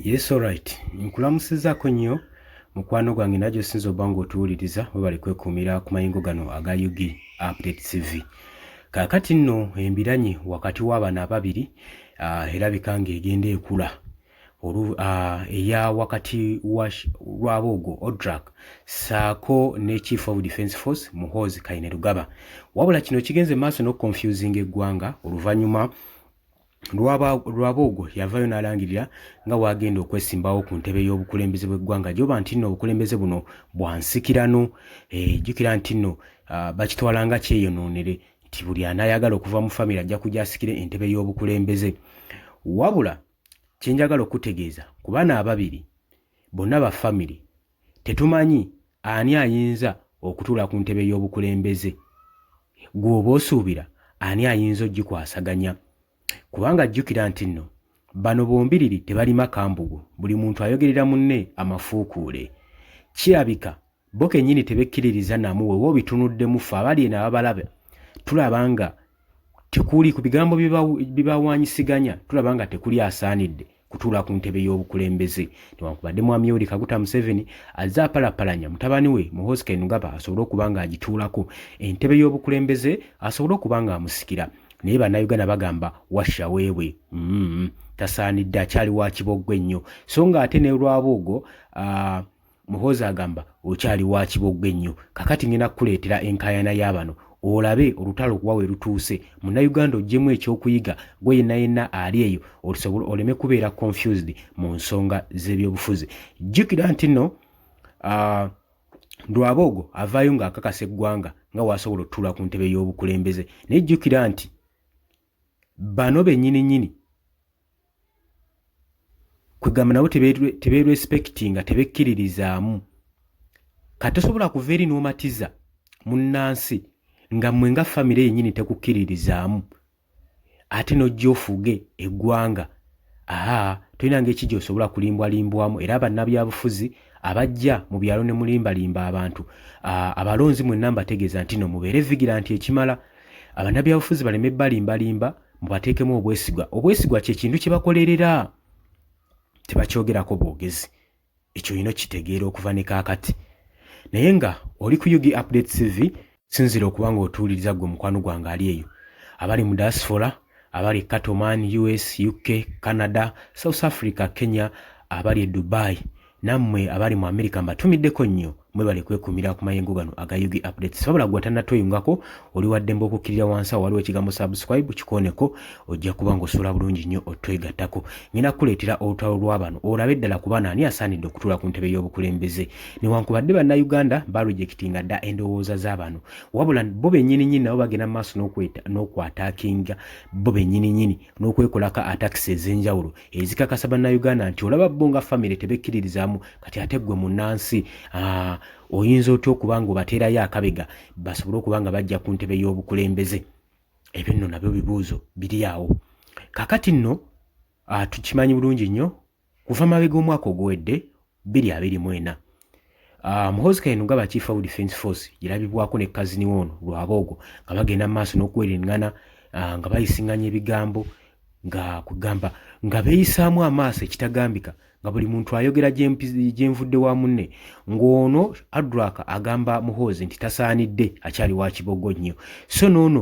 Yes alright. Nkulamusizako nnyo mukwano gwange najo sinzo bango tuwuliriza webali kwekumira ku mayingo gano aga UG Update TV. Kakati nno embiranye wakati w'abana ababiri uh, erabika nga egenda ekula olu uh, eya wakati wa Rwabogo Odrak saako ne Chief of Defence Force Muhoozi Kainerugaba. Wabula kino kigenze maaso n'okukonfuzinga eggwanga oluvannyuma Rwaboogo yavaayo n'alangirira nga waagenda okwesimbawo ku ntebe y'obukulembeze bw'eggwanga gyoba nti nno obukulembeze buno bwa nsikirano eh, jjukira nti nno ah, bakitwala nga kyeyonoonere nti buli anaayagala okuva mu famire ajja kujja asikire entebe y'obukulembeze wabula kye njagala okutegeeza ku bana ababiri bonna ba famire Tetumanyi ani ayinza okutuula ku ntebe y'obukulembeze. Ggwe oba osuubira ani ayinza ogikwasaganya? Kubanga jjukira nti nno bano bombiriri tebalima kambugu, buli muntu ayogerera munne amafuukuule. Kirabika bo kennyini tebekkiririza namu wewa obitunuddemu ffe abali eno ababalaba tulaba nga tekuli ku bigambo bibawanyisiganya tulaba nga tekuli asaanidde kutuula ku ntebe y'obukulembeze newankubadde mwami yoweri kaguta museveni azze apalapalanya mutabani we muhosi kainugaba asobole okuba nga agituulako entebe y'obukulembeze asobole okuba nga amusikira naye bannayuganda bagamba washa weebwe mm -hmm. tasaanidde akyali wa kiboggwa ennyo so nga ate ne lwabuugo uh, Muhoozi agamba okyali wa kibogwe nnyo kakati ngenda kukuleetera enkaayana ya bano olabe olutalo kuba we lutuuse munnayuganda oggyemu ekyokuyiga gwe yenna yenna ali eyo olisobola oleme kubeera confused mu nsonga z'ebyobufuzi jjukira nti nno uh, ndwaboogo avaayo ng'akakasa eggwanga nga waasobola otutuula ku ntebe y'obukulembeze naye jjukira nti bano benyini nyini kwegamba nabo teberespectinga tebekkiririzaamu kati tosobola kuva eri n'omatiza munnansi nga mmwe nga famire yenyini tekukkiririzaamu ate n'ojja ofuge eggwanga Aa, tolina ngeri ki gy'osobola kulimbwalimbwamu, era bannabyabufuzi abajja mu byalo ne mulimbalimba abantu. Aa, abalonzi mwenna mbategeeza nti no mubeere vigilanti ekimala. Abannabyabufuzi baleme balimbalimba, mubateekemu obwesigwa. Obwesigwa kye kintu kye bakolerera, tebakyogerako bwogezi. ekyo olina okitegeera okuva ne kaakati naye nga oli ku ug update cv sinzira okuba nga otuwuliriza gwe mukwano gwange ali eyo abali mu diaspora abali catoman us uk canada south africa kenya abali e dubai nammwe abali mu america mbatumiddeko nnyo mwebale kwekumira ku mayengo gano aga yugi updates sabula gwa tanatoyungako oli wadde mbokukirira wansi awo waliwo ekigambo subscribe kikoneko ojja kuba ng'osula bulungi nnyo otwegattako ngenda kukuleetera olutalo lw'abano olabe eddala ku bana ani asaanidde okutuula ku ntebe y'obukulembeze newankubadde bannayuganda balujekitinga dda endowooza z'abano wabula bo benyininyini nabo bagenda maaso n'okwata akinga bo benyininyini n'okwekolako atakisi ez'enjawulo ezikakasa bannayuganda nti olaba bo nga famire tebekkiririzaamu kati ate ggwe munnansi ah, oyinza otya okuba nga obateerayo akabega basobole okuba nga bajja ku ntebe y'obukulembeze ebyo nno nabyo bibuuzo biri awo kakati nno ah, tukimanyi bulungi nnyo kuva mabega omwaka oguwedde bbiri abiri mu ena ah, muhozi kayinuga ba chief of defence force girabibwako ne kazini woono lwaboogo nga bagenda mu maaso n'okuwereŋŋana ah, nga bayisiŋŋanya ebigambo nga kugamba nga beeyisaamu amaaso ekitagambika nga buli muntu ayogera gyenvudde wa munne ng'ono adraka agamba muhoozi nti tasaanidde akyali wa kibogo nnyo so noono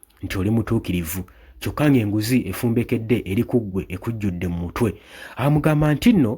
nti oli mutuukirivu kyokka ng'enguzi efumbekedde eri ku ggwe ekujjudde mu mutwe amugamba nti nno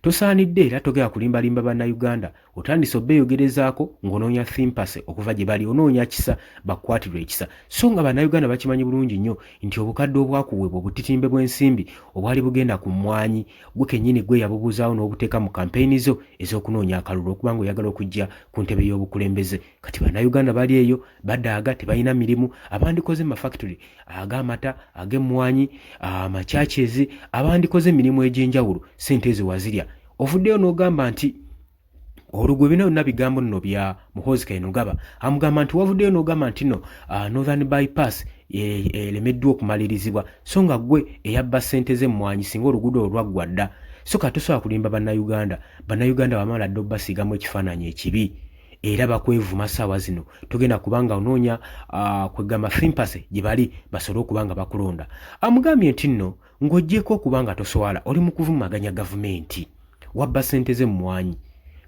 tosaanidde era togera kulimbalimba bannayuganda otandise obeeyogerezaako ng'onoonya thimpase okuva gye bali onoonya kisa bakukwatirwa ekisa so nga bannayuganda bakimanyi bulungi nnyo nti obukadde obwakuweebwa obutitimbe bw'ensimbi obwali bugenda ku mmwanyi gwe kennyini gwe yabubuuzaawo n'obuteeka mu kampeyini zo ez'okunoonya akalulu okubanga oyagala okujja ku ntebe y'obukulembeze kati bannayuganda bali eyo badaaga tebalina mirimu abandikoze mu mafactory ag'amata ag'emmwanyi amachurches abandikoze emirimu egy'enjawulo sente ezo wazirya ovuddeyo n'ogamba nti olugwe bino byonna bigambo nno bya muhoozi kainugaba amugamba nti wavuddeyo n'ogamba nti no ah, northern bypass e, elemeddwa okumalirizibwa so nga gwe eyabba sente z'emmwanyi singa oluguudo olwaggwa dda so katusobola kulimba bannayuganda bannayuganda bamala dda obubasiigamu ekifaananyi ekibi era bakwevuma saawa zino togenda kubanga onoonya uh, kwegamba fimpase gye bali basobole okuba nga bakulonda amugambye nti nno ng'ogyeko okuba nga toswala oli mu kuvumaganya gavumenti wabba ssente ze mumwanyi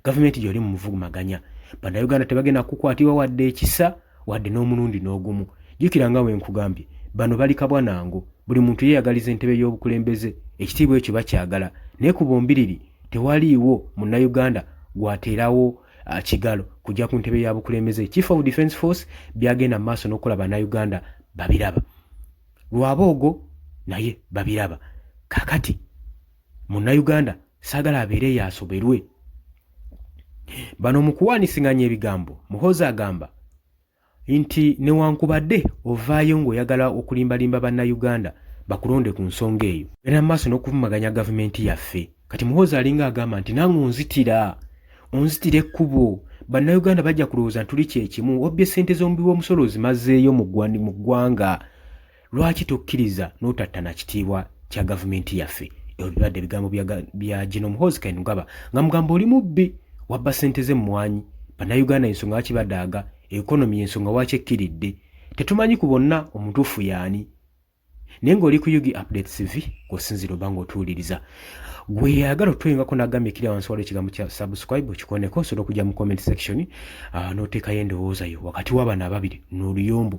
gavumenti gyoli mu muvumaganya bannayuganda tebagenda kukwatibwa wadde ekisa wadde n'omulundi n'ogumu jjukira nga bwe nkugambye bano bali kabwa nango buli muntu yeeyagaliza entebe y'obukulembeze ekitiibwa ekyo bakyagala naye ku bombiriri tewaliiwo munnayuganda gwateerawo ah, kigalo kujja ku ntebe ya bukulembeze chief of defence force byagenda mu maaso n'okukola bannayuganda babiraba lwaboogo naye babiraba kakati munnayuganda sagala abeere yasoberwe bano mu kuwaanisiŋanya ebigambo muhoozi agamba nti newankubadde ovaayo ng'oyagala okulimbalimba bannayuganda bakulonde ku nsonga eyo era mu maaso n'okuvumaganya gavumenti yaffe kati muhoozi alinga agamba nti nange onzitira onzitira ekkubo bannayuganda bajja kulowooza ntuli kyekimu obbye ssente z'omubi w'omusolo ozimazeeyo mu ggwanga Lwaki tokkiriza n'otattana kitiibwa kya gavumenti yaffe? Ebyo bibadde ebigambo bya Gino Muhoozi Kainerugaba nga mugamba oli mubbi wabba ssente z'emmwanyi bannayuganda ensonga lwaki badaaga ekonomi y'ensonga waaki ekkiridde tetumanyi ku bonna omutuufu yaani naye ng'oli ku ug update cv kw'osinziira oba ng'otuwuliriza gwe yayagala otwengako n'agambye ekiri awansi waliwo ekigambo kya subscribe okikoneko osobola okujja mu comment section ah, n'oteekayo endowooza yo wakati w'abaana ababiri n'oluyombo